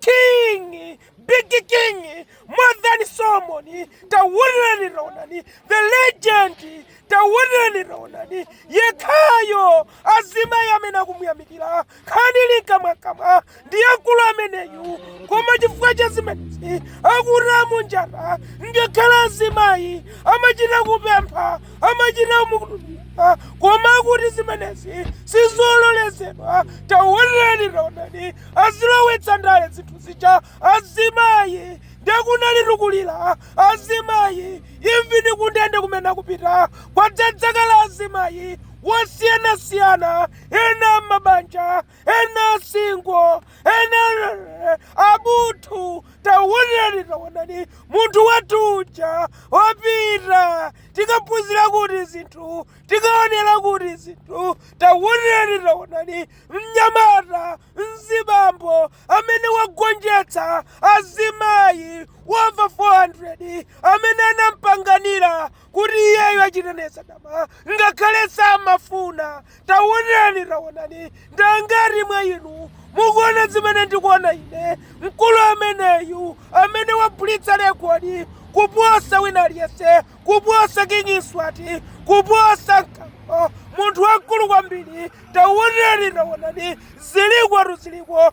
King, big king, more than someone, taonerani taonani, the legend, taonerani taonani, yekhayo azimayi amene akumuyamikira khanili kamwakamwa ndi mkulu ameneyu koma chifukwa cha zimenezi akuti mu njala ngakhale azimayi amachita kupempha amachita mukutulira koma akuti zimenezi sizololezedwa taonerani taonani azilowetsa ndale zinthu zija azimayi nde kunalitu kulira azimayi imvani kundende kumene akupita kwadzadzakala azimayi osiyanasiyana ena amabanja ena asingo ena abuthu taonerani taonani munthu wathu uja wapita tikaphunzira kuti zinthu tikaonera kuti zinthu taonerani taonani Mnyamata, mzibambo amene wagonjetsa azimayi over 400 amene anampangira kuti iyeyo achite naye zadama ngakhale samafuna. Taonerani, taonani, ndi angati mwa inu mukuona zimene ndikuona ine? Mkulu ameneyu amene waphulitsa rekodi kuposa wina aliyense kuposa King Mswati, kuposa Mkango, munthu wamkulu kwambiri. Taonerani, taonani, zilikotu ziliko.